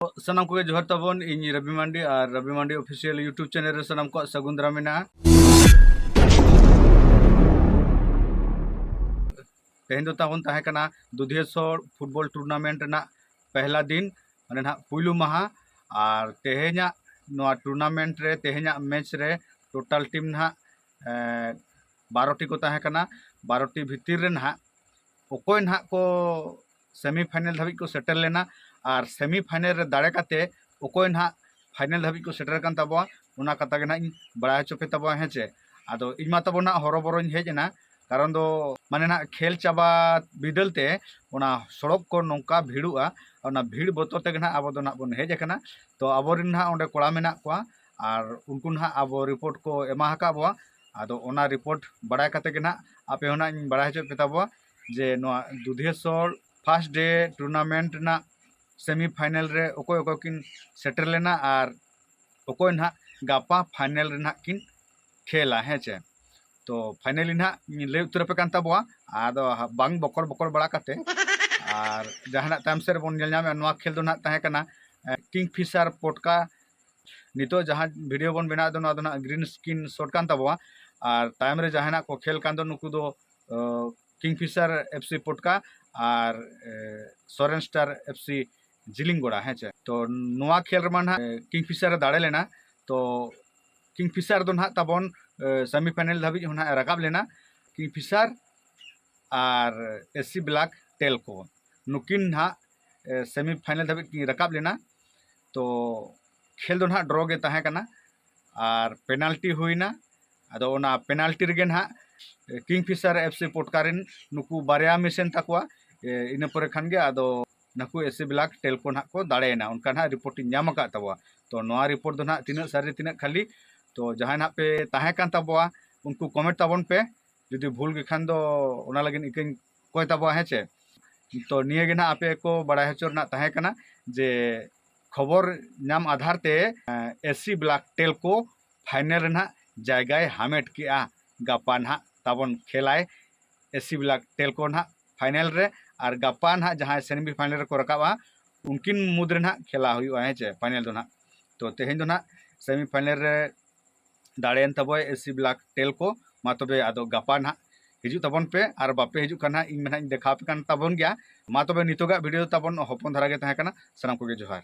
ᱥᱟᱱᱟᱢ ᱠᱚᱜᱮ ᱡᱚᱦᱟᱨ ᱛᱟᱵᱚᱱ ᱤᱧ ᱨᱚᱵᱤ ᱢᱟᱱᱰᱤ ᱟᱨ Robi Mandi official YouTube channel ᱨᱮ ᱥᱟᱱᱟᱢ ᱠᱚᱣᱟᱜ ᱥᱟᱹᱜᱩᱱ ᱫᱟᱨᱟᱢ ᱢᱮᱱᱟᱜᱼᱟ ᱛᱮᱦᱮᱧ ᱫᱚ ᱛᱟᱵᱚᱱ ᱛᱟᱦᱮᱸ ᱠᱟᱱᱟ ᱫᱩᱫᱷᱮᱥᱚᱨ ᱯᱷᱩᱴᱵᱚᱞ ᱴᱩᱨᱱᱟᱢᱮᱱᱴ ᱨᱮᱱᱟᱜ ᱯᱮᱦᱞᱟ ᱫᱤᱱ ᱢᱟᱱᱮ ᱱᱟᱦᱟᱜ ᱯᱩᱭᱞᱩ ᱢᱟᱦᱟ ᱟᱨ ᱛᱮᱦᱮᱧᱟᱜ ᱱᱚᱣᱟ ᱴᱩᱨᱱᱟᱢᱮᱱᱴ ᱨᱮ ᱛᱮᱦᱮᱧᱟᱜ ᱢᱮᱪ ᱨᱮ ᱴᱳᱴᱟᱞ ᱴᱤᱢ ᱱᱟᱦᱟᱜ ᱵᱟᱨᱚᱴᱤ ᱠᱚ ᱛᱟᱦᱮᱸ ᱠᱟᱱᱟ ᱵᱟᱨᱚᱴᱤ ᱵᱷᱤᱛᱤᱨ ᱨᱮ ᱱᱟᱦᱟᱜ ᱚᱠᱚᱭ ᱱᱟᱦᱟᱜ ᱠᱚ ᱥᱮᱢᱤ ᱯᱷᱟᱭᱱᱮᱞ ᱫᱷᱟᱹᱵᱤᱡ ᱠᱚ ᱥᱮᱴᱮᱨ ᱞᱮᱱᱟ ᱟᱨ ᱥᱮᱢᱤ ᱯᱷᱟᱭᱱᱮᱞ ᱨᱮ ᱫᱟᱲᱮ ᱠᱟᱛᱮ ᱚᱠᱚᱭ ᱱᱟᱦᱟᱜ ᱯᱷᱟᱭᱱᱮᱞ ᱫᱷᱟᱹᱵᱤᱡ ᱠᱚ ᱥᱮᱴᱮᱨ ᱟᱠᱟᱱ ᱛᱟᱵᱚᱣᱟ ᱚᱱᱟ ᱠᱟᱛᱷᱟ ᱜᱮ ᱱᱟᱦᱟᱜ ᱤᱧ ᱵᱟᱲᱟᱭ ᱦᱚᱪᱚ ᱯᱮ ᱛᱟᱵᱚᱣᱟ ᱦᱮᱸ ᱪᱮ ᱟᱫᱚ ᱤᱧ ᱢᱟ ᱛᱟᱵᱚ ᱱᱟᱦᱟᱜ ᱦᱚᱨᱚᱵᱚᱨᱚᱧ ᱦᱮᱡ ᱮᱱᱟ ᱠᱟᱨᱚᱱ ᱫᱚ ᱢᱟᱱᱮ ᱱᱟᱦᱟᱜ ᱠᱷᱮᱞ ᱪᱟᱵᱟ ᱵᱤᱫᱟᱹᱞ ᱛᱮ ᱚᱱᱟ ᱥᱚᱲᱚᱠ ᱠᱚ ᱱᱚᱝᱠᱟ ᱵᱷᱤᱲᱚᱜᱼᱟ ᱚᱱᱟ ᱵᱷᱤᱲ ᱵᱚᱛᱚᱨ ᱛᱮᱜᱮ ᱱᱟᱦᱟᱜ ᱟᱵᱚ ᱫᱚ ᱱᱟᱦᱟᱜ ᱵᱚᱱ ᱦᱮᱡ ᱟᱠᱟᱱᱟ ᱛᱚ ᱟᱵᱚᱨᱮᱱ ᱱᱟᱦᱟᱜ ᱚᱸᱰᱮ ᱠᱚᱲᱟ ᱢᱮᱱᱟᱜ ᱠᱚᱣᱟ ᱟᱨ ᱩᱱᱠᱩ ᱱᱟᱦᱟᱜ ᱟᱵᱚ ᱨᱤᱯᱳᱨᱴ ᱠᱚ ᱮᱢᱟ ᱟᱠᱟᱫ ᱵᱚᱣᱟ ᱟᱫᱚ ᱚᱱᱟ ᱨᱤᱯᱳᱨᱴ ᱵᱟᱲᱟᱭ ᱠᱟᱛᱮ ᱜᱮ ᱱᱟᱦᱟᱜ ᱟᱯᱮ ᱦᱚᱸ ᱱᱟᱦᱟᱜ ᱤᱧ ᱵᱟᱲᱟᱭ ᱦᱚᱪᱚᱭᱮᱫ ᱯᱮ ᱛᱟᱵᱚᱣᱟ ᱡᱮ ᱱᱚᱶᱟ ᱫᱩᱫᱷᱮᱥᱚᱨ ᱯᱷᱟᱥᱴ ᱰᱮ ᱴᱩᱨᱱᱟᱢᱮᱱᱴ ᱨᱮᱱᱟᱜ ᱥᱮᱢᱤ ᱯᱷᱟᱭᱱᱮᱞ ᱨᱮ ᱚᱠᱚᱭ ᱚᱠᱚᱭ ᱠᱤᱱ ᱥᱮᱴᱮᱨ ᱞᱮᱱᱟ ᱟᱨ ᱚᱠᱚᱭ ᱱᱟᱦᱟᱜ ᱜᱟᱯᱟ ᱯᱷᱟᱭᱱᱮᱞ ᱨᱮ ᱱᱟᱦᱟᱜ ᱠᱤᱱ ᱠᱷᱮᱞᱟ ᱦᱮᱸ ᱪᱮ ᱛᱚ ᱯᱷᱟᱭᱱᱮᱞᱤ ᱱᱟᱦᱟᱜ ᱤᱧ ᱞᱟᱹᱭ ᱩᱛᱟᱹᱨ ᱟᱯᱮ ᱠᱟᱱ ᱛᱟᱵᱚᱣᱟ ᱟᱫᱚ ᱵᱟᱝ ᱵᱚᱠᱚᱲ ᱵᱚᱠᱚᱲ ᱵᱟᱲᱟ ᱠᱟᱛᱮ ᱟᱨ ᱡᱟᱦᱟᱱᱟᱜ ᱛᱟᱭᱚᱢ ᱥᱮᱫ ᱨᱮᱵᱚᱱ ᱧᱮᱞ ᱧᱟᱢᱮᱫᱼᱟ ᱱᱚᱶᱟ ᱠᱷᱮᱞ ᱫᱚ ᱱᱟᱦᱟᱜ ᱛᱟᱦᱮᱸ ᱠᱟᱱᱟ ᱠᱤᱝ ᱯᱷᱤᱥᱟᱨ ᱯᱚᱴᱠᱟ ᱱᱤᱛᱚᱜ ᱡᱟᱦᱟᱸ ᱵᱷᱤᱰᱤᱭᱳ ᱵᱚᱱ ᱵᱮᱱᱟᱣᱮᱫ ᱫᱚ ᱱᱚᱶᱟ ᱫᱚ ᱱᱟᱦᱟᱜ ᱜᱨᱤᱱ ᱥᱠᱨᱤᱱ ᱥᱚᱴ ᱠᱟᱱ ᱛᱟᱵᱚᱣᱟ ᱟᱨ ᱛᱟᱭᱚᱢ ᱨᱮ ᱡᱟᱦᱟᱱᱟᱜ ᱠᱚ ᱠᱷᱮᱞ ᱠᱟᱱ ᱫᱚ ᱱᱩᱠᱩ ᱫᱚ ᱠᱤᱝᱯᱷᱤᱥᱟᱨ ᱮᱯᱷ ᱥᱤ ᱯᱚᱴᱠᱟ ᱟᱨ Soren star F C Jilinggora ᱦᱮᱸ ᱪᱮ ᱛᱚ ᱱᱚᱣᱟ ᱠᱷᱮᱞ ᱨᱮᱢᱟ ᱱᱟᱦᱟᱜ ᱠᱤᱝᱯᱷᱤᱥᱟᱨ ᱮ ᱫᱟᱲᱮ ᱞᱮᱱᱟ ᱛᱚ ᱠᱤᱝᱯᱷᱤᱥᱟᱨ ᱫᱚ ᱱᱟᱦᱟᱜ ᱛᱟᱵᱚᱱ ᱥᱮᱢᱤ ᱯᱷᱟᱭᱱᱮᱞ ᱫᱷᱟᱹᱵᱤᱡ ᱦᱚᱸ ᱱᱟᱦᱟᱜ ᱮ ᱨᱟᱠᱟᱵ ᱞᱮᱱᱟ ᱠᱤᱝᱯᱷᱤᱥᱟᱨ ᱟᱨ ᱮᱥ ᱥᱤ ᱵᱞᱟᱠ ᱴᱮᱞᱠᱳ ᱱᱩᱠᱤᱱ ᱱᱟᱦᱟᱜ ᱥᱮᱢᱤ ᱯᱷᱟᱭᱱᱮᱞ ᱫᱷᱟᱹᱵᱤᱡ ᱠᱤᱱ ᱨᱟᱠᱟᱵ ᱞᱮᱱᱟ ᱛᱚ ᱠᱷᱮᱞ ᱫᱚ ᱱᱟᱦᱟᱜ ᱰᱨᱚ ᱜᱮ ᱛᱟᱦᱮᱸ ᱠᱟᱱᱟ ᱟᱨ ᱯᱮᱱᱟᱞᱴᱤ ᱦᱩᱭᱱᱟ ᱟᱫᱚ ᱚᱱᱟ ᱯᱮᱱᱟᱞᱴᱤ ᱨᱮᱜᱮ ᱱᱟᱦᱟᱜ ᱠᱤᱝ ᱯᱷᱤᱥᱟᱨ ᱮᱯᱷ ᱥᱤ ᱯᱚᱴᱠᱟ ᱨᱮᱱ ᱱᱩᱠᱩ ᱵᱟᱨᱭᱟ ᱢᱤᱥ ᱮᱱ ᱛᱟᱠᱚᱣᱟ ᱤᱱᱟᱹ ᱯᱚᱨᱮ ᱠᱷᱟᱱ ᱜᱮ ᱟᱫᱚ ᱱᱩᱠᱩ ᱮᱥᱤ ᱵᱞᱟᱠ ᱴᱮᱞᱠᱚ ᱱᱟᱦᱟᱜ ᱠᱚ ᱫᱟᱲᱮᱭᱮᱱᱟ ᱚᱱᱠᱟ ᱱᱟᱦᱟᱜ ᱨᱤᱯᱳᱨᱴ ᱤᱧ ᱧᱟᱢ ᱟᱠᱟᱫ ᱛᱟᱵᱚᱣᱟ ᱛᱚ ᱱᱚᱣᱟ ᱨᱤᱯᱳᱨᱴ ᱫᱚ ᱱᱟᱦᱟᱜ ᱛᱤᱱᱟᱹᱜ ᱥᱟᱹᱨᱤ ᱛᱤᱱᱟᱹᱜ ᱠᱷᱟᱹᱞᱤ ᱛᱚ ᱡᱟᱦᱟᱸᱭ ᱱᱟᱦᱟᱜ ᱯᱮ ᱛᱟᱦᱮᱸ ᱠᱟᱱ ᱛᱟᱵᱚᱣᱟ ᱩᱱᱠᱩ ᱠᱚᱢᱮᱱᱴ ᱛᱟᱵᱚᱱ ᱯᱮ ᱡᱩᱫᱤ ᱵᱷᱩᱞ ᱜᱮ ᱠᱷᱟᱱ ᱫᱚ ᱚᱱᱟ ᱞᱟᱹᱜᱤᱫ ᱤᱠᱟᱹᱧ ᱠᱚᱭ ᱛᱟᱵᱚᱣᱟ ᱦᱮᱸ ᱪᱮ ᱛᱚ ᱱᱤᱭᱟᱹ ᱜᱮ ᱱᱟᱦᱟᱜ ᱟᱯᱮ ᱠᱚ ᱵᱟᱲᱟᱭ ᱦᱚᱪᱚ ᱨᱮᱱᱟᱜ ᱛᱟᱦᱮᱸ ᱠᱟᱱᱟ ᱡᱮ ᱠᱷᱚᱵᱚᱨ ᱧᱟᱢ ᱟᱫᱷᱟᱨ ᱛᱮ ᱮᱥᱤ ᱵᱞᱟᱠ ᱴᱮᱞᱠᱳ ᱯᱷᱟᱭᱱᱮᱞ ᱨᱮ ᱱᱟᱦᱟᱜ ᱡᱟᱭᱜᱟᱭ ᱦᱟᱢᱮᱴ ᱠᱮᱜᱼᱟ ᱜᱟᱯᱟ ᱱᱟᱦᱟᱜ ᱛᱟᱵᱚᱱ ᱠᱷᱮᱞᱟᱭ ᱮᱥᱤ ᱵᱞᱟᱠ ᱴᱮᱞᱠᱳ ᱱᱟᱦᱟᱜ ᱯᱷᱟᱭᱱᱮᱞ ᱨᱮ ᱟᱨ ᱜᱟᱯᱟ ᱱᱟᱦᱟᱜ ᱡᱟᱦᱟᱸᱭ ᱥᱮᱢᱤ ᱯᱷᱟᱭᱱᱮᱞ ᱨᱮᱠᱚ ᱨᱟᱠᱟᱵᱼᱟ ᱩᱱᱠᱤᱱ ᱢᱩᱫᱽᱨᱮ ᱱᱟᱦᱟᱜ ᱠᱷᱮᱞᱟ ᱦᱩᱭᱩᱜᱼᱟ ᱦᱮᱸ ᱪᱮ ᱯᱷᱟᱭᱱᱮᱞ ᱫᱚ ᱱᱟᱦᱟᱜ ᱛᱚ ᱛᱮᱦᱮᱧ ᱫᱚ ᱱᱟᱦᱟᱜ ᱥᱮᱢᱤ ᱯᱷᱟᱭᱱᱮᱞ ᱨᱮ ᱫᱟᱲᱮᱭᱮᱱ ᱛᱟᱵᱚᱭ ᱮᱥᱤ ᱵᱞᱟᱠ ᱴᱮᱞ ᱠᱚ ᱢᱟ ᱛᱚᱵᱮ ᱟᱫᱚ ᱜᱟᱯᱟ ᱱᱟᱦᱟᱜ ᱦᱤᱡᱩᱜ ᱛᱟᱵᱚᱱ ᱯᱮ ᱟᱨ ᱵᱟᱯᱮ ᱦᱤᱡᱩᱜ ᱠᱟᱱᱟ ᱤᱧ ᱢᱮᱱᱟᱜ ᱤᱧ ᱫᱮᱠᱷᱟᱣ ᱯᱮ ᱠᱟᱱ ᱛᱟᱵᱚᱱ ᱜᱮᱭᱟ ᱢᱟ ᱛᱚᱵᱮ ᱱᱤᱛᱚᱜᱟᱜ ᱵᱷᱤᱰᱤᱭᱳ ᱛᱟᱵᱚᱱ ᱦᱚᱯᱚᱱ ᱫᱷᱟᱨᱟ ᱜᱮ ᱛᱟᱦᱮᱸ ᱠᱟᱱᱟ ᱥᱟᱱᱟᱢ ᱠᱚᱜᱮ ᱡᱚᱦᱟᱨ